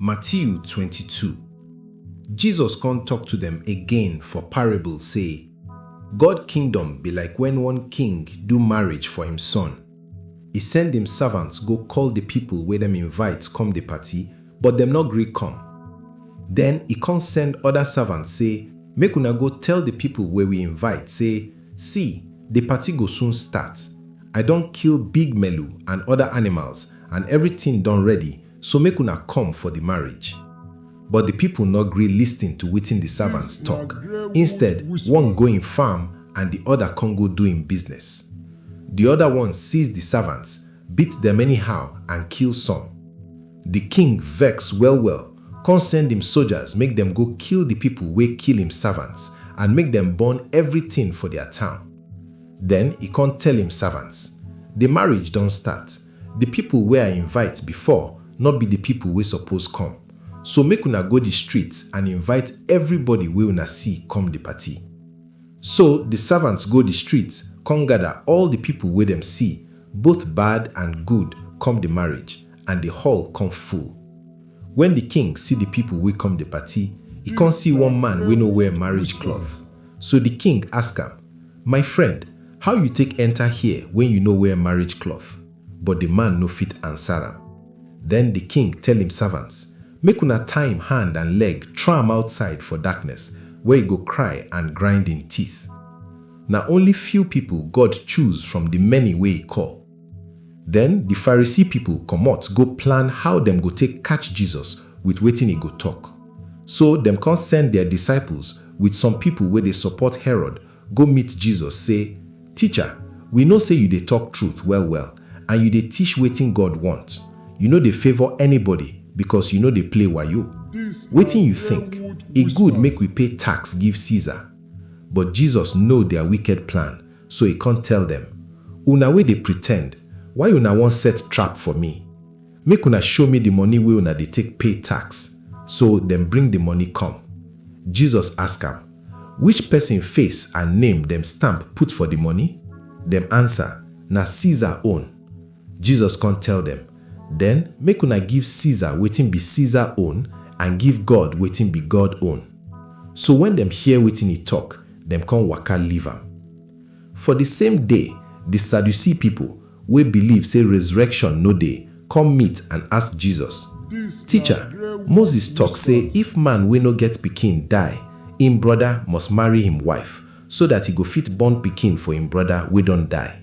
Matiu twenty-two Jesus kon tok to dem again for parable sey, God kingdom bi like wen one king do marriage for im son. E send im savants go koll di pipol wey dem invite kom di party, but dem nor gri kom. Den e kon send oda savants sey, Make una go tell di pipol wey wi invite sey, Si, di party go soon start. I don kill big melu and oda animals and evritin don ready, so make una come for di marriage. But di pipo nor gree listin to wetin di servants tok, instead, one go im farm and di oda con go do im business. Di oda one seize di servants, beat dem anyhow and kill some. Di king vex well-well con send im sojas make dem go kill di pipo wey kill im servants and make dem burn evritin for dia town. Den e con tell im servants, Di marriage don start, Di pipol wey I invite bifor nor bi di pipol wey sopoz kom. So make una go di street and invite evribody wey una si kom di party. So di savants go di street kon gada all di pipol wey dem si, both bad and good, kom di marriage, and di hall kon full. Wen di king si di pipol wey kom di party, e kon si one man wey no wear marriage cloth. So di king ask am, My friend, how yu take enter here wen yu no wear marriage cloth? But di man no fit answer am. Den di king tell im servants, Make una tie im hand and leg throw am outside for darkness, where e go cry and grind im teeth. Na only few pipol God choose from di many wey e call. Den di Pharisee pipol komot go plan how dem go take katch Jesus with wetin e go tok. So dem kon send dia disciples with some pipol wey dey sopot Herod go meet Jesus sey, Ticha, wi know sey yu dey tok truth well-well and yu dey tish wetin God wont. Yu no dey favor anybody bikos yu no dey play wayo. Wetin yu tink? E good make wi pay tax give Caesar? But Jesus know dia wiked plan, So e kon tell dem, Una wey dey pretend, why una won set trap for mi? Make una show mi di moni wey una dey take pay tax. So dem bring di moni kom. Jesus ask am, Which pesin face and name dem stamp put for di moni? Dem ansa, Na Caesar own. Jesus kon tell dem, Den make una give Caesar wetin bi Caesar own and give God wetin bi God own. So wen dem hear wetin e tok, dem kon waka leave am. For di same day, di Sadducee pipo, wey biliv sey rezurekshon no dey, kom meet and ask Jesus, Ticha, Moses tok sey if man wey no get pikin die, im broda must marry him wife, so dat e go fit born pikin for im broda wey don die.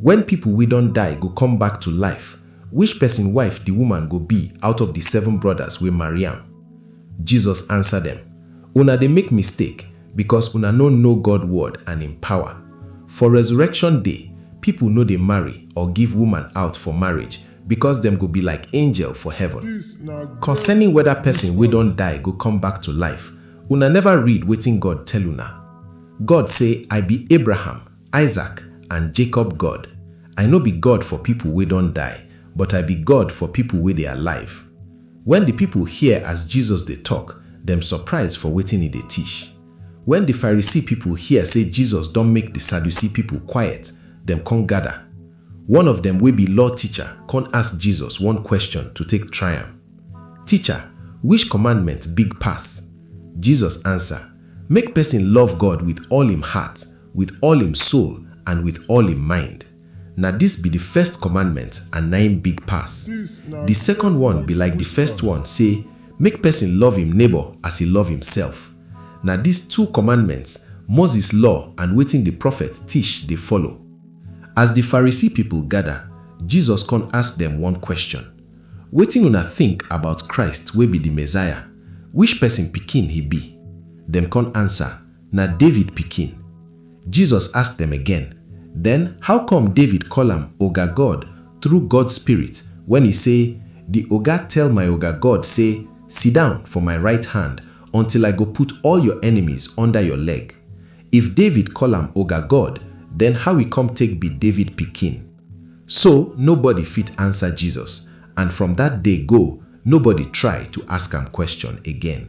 Wen pipo wey don die go come back to life, which pesin wife di woman go be out of di seven brodas wey marry am? Jesus ansa dem, Una dey make mistake, becos una no know God word and im pawa. For resurrection day, pipo no dey marry or give woman out for marriage, becos dem go be like angel for heaven. Concerning weda pesin wey don die go come back to life, una neva read wetin God tell una? God say, I be Abraham, Isaac, and Jacob God. I no be God for pipo wey don die, but I be God for pipo wey dey alive. Wen di pipo hear as Jesus dey tok, dem surprise for wetin e dey tish. Wen di Pharisee pipo hear sey Jesus don make di Sadducee pipo quiet, dem con gada. One of dem wey be law ticha con ask Jesus one kweshon to take try am, Ticha, wish kommandment big pass? Jesus ansa, Make pesin love God with all im heart, with all im soul and with all im mind. Na dis be di first commandment and na im big pass. Di second one be like di first one sey make pesin love im neighbour as e love imsef. Na dis two commandments Moses law and wetin di prophets tish dey follow. As di Pharisee pipol gada, Jesus kon ask dem one kweshon, Wetin una tink about Christ wey be di Messiah? Wish pesin pikin he bi? Dem kon ansa, Na David pikin. Jesus ask dem again, Then how come David call am Oga God through God Spirit when e say, Di Oga tell my Oga God say, Sidown for my right hand until I go put all your enemies under your leg? If David call am Oga God, then how e come take be David pikin? So nobody fit answer Jesus, and from that day go, nobody try to ask am question again.